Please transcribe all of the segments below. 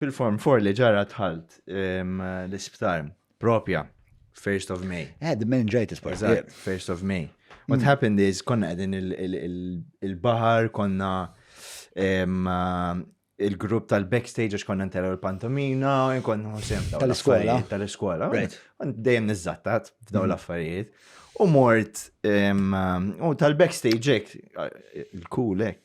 Fil-Form 4 li ġara dħalt ehm, l-isptar propja, 1st of May. Eh, the meningitis part. Eżatt, yeah. 1st of May. What mm. happened is konna qegħdin il-baħar, konna ehm, il-grupp tal-backstage għax konna nteru l-pantomina, konna sem tal-iskola. Tal-iskola. Dejjem nizzattat f'daw mm. l-affarijiet. U mort, u tal-backstage ek, il-kulek,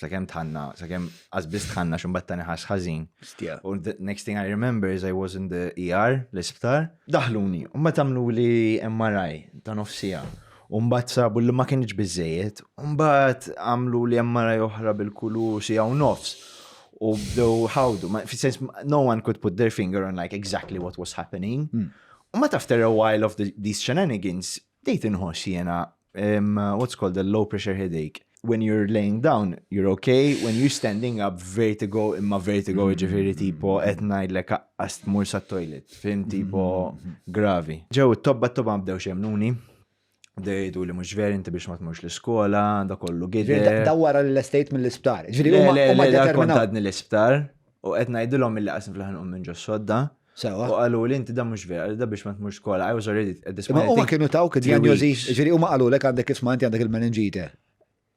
sakemm tħanna, sakemm għazbis tħanna xumbat tani ħas ħazin. U next thing I remember is I was in the ER, l-isptar, daħluni, u ma tamlu li MRI ta' nofsija. Umbat sabu li ma kienx bizzejiet, umbat għamlu li MRI oħra bil-kulu si għaw nofs. U bdew ħawdu, fi sens, no one could put their finger on like exactly what was happening. Hmm. U ma tafter a while of the, these shenanigans, Bdejt inħoss jiena um, what's called a low pressure headache. When you're laying down, you're okay. When you're standing up, vertigo, imma vertigo mm. ġifiri tipo qed ngħidlek aqqas tmur sa toilet, fim tipo mm. gravi. Ġew it-tobba t-tobba bdew xemnuni. Dejdu li mux veri inti biex ma tmux l-iskola, da kollu gidder. Dawwara l-estate mill-isptar. Ġviri, u ma determinadni l-isptar, u għetna jidilom mill-qasn fl-ħan u minn ġo sodda. Sewa. U qalu li inti dan mhux vera, da biex ma tmux skola, I was already at this point. Ma huma kienu tawk id-diagnosi, ġifieri huma qalu lek għandek isma' inti għandek il-meningite.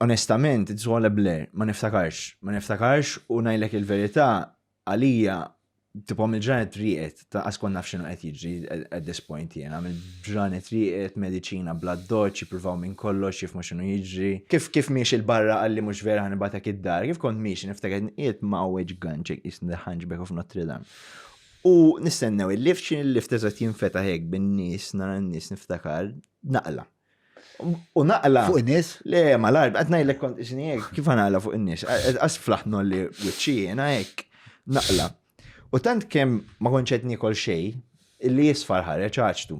Onestament, it's all a blur, ma niftakarx, ma niftakarx u ngħidlek il-verità għalija tipo mill ġranet riqet, ta' askon naf xinu qed jiġri at this point jena, mill ġranet riqet, medicina bla doċ, jipruvaw minn kollox, jifmu xinu jiġri. Kif kif miex il-barra għalli mux vera ħanibatek id-dar, kif kont miex niftakar nqiet ma' weġ ganċek jisni ħanġbek of Notre Dame. U nistennew il-lift, xin il-lift eżat jinfetaħ hekk bin-nies, nara n-nies niftakar, naqla. U naqla. Fuq in-nies? Le, ma l-arb, qed ngħidlek kont isni hekk, kif naqla fuq in-nies? Qas flaħtnu li wiċċi jiena hekk, naqla. U tant kemm ma konċet nikol xej, illi jisfar ħareġ ħaġtu.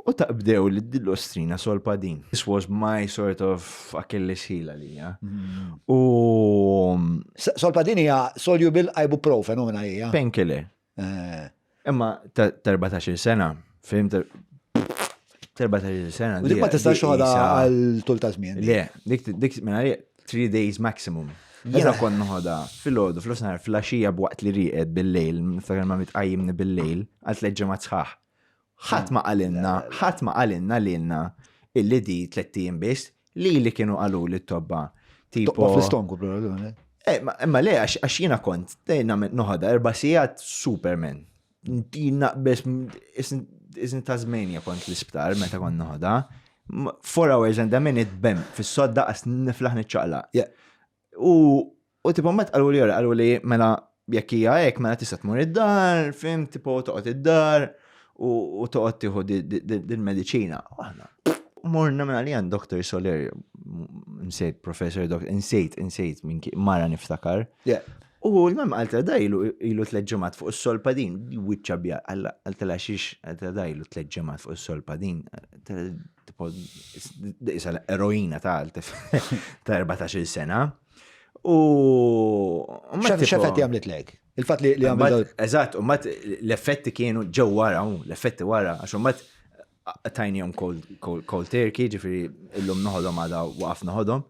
U taqbdew li d-dillostrina solpa din. This was my sort of Achilles heel għalija. Mm. U. Solpa din hija solubil ibuprofen u minna hija. Penkile. Eh. Imma 14 sena, fim 14 sena. Dik ma tistax xoħda għal tul ta' żmien. Le, dik dik minna 3 days maximum. Jena kon nħoda fil-ħodu, fil-osnar, fil-axija b'waqt li riqed bil-lejl, niftakar ma mitqajjimni bil-lejl, għal tleġġemat sħaħ. ħadd ma qalilna, ħadd ma qalilna lilna illi di tliet ijiem biss li li kienu qalu li t-tobba. Tipo fl-istonku problemi. Eh, imma le għax jiena kont dejna noħodha erba' sigħat Superman. Dina biss isni ta' żmejnja kont l-isptar meta kont noħodha. Four hours and a minute bem fis-sodda għas niflaħ niċċaqla. U u tipo met qalu li jora, qalu li mela jekk hija hekk mela tista' tmur id-dar, fim tipo toqgħod id-dar u toqgħod tieħu dil-mediċina. Morna mela li għand Dr. Soler, nsejt Professor Dr. Nsejt, nsejt minn mara niftakar. U l-mam għalta dajlu ilu t-leġġemat fuq s-solpa din, wiċċa bja, għalta la xiex għalta dajlu t-leġġemat fuq s-solpa din, tipo, isa l-eroina ta' 14 sena. U. Xafet jamlet lek? Il-fat li għamlet. Eżat, u mat l-effetti kienu ġew wara, l-effetti wara, għax u mat tajnijom cold turkey, ġifiri illum noħodom għada waqaf noħodom.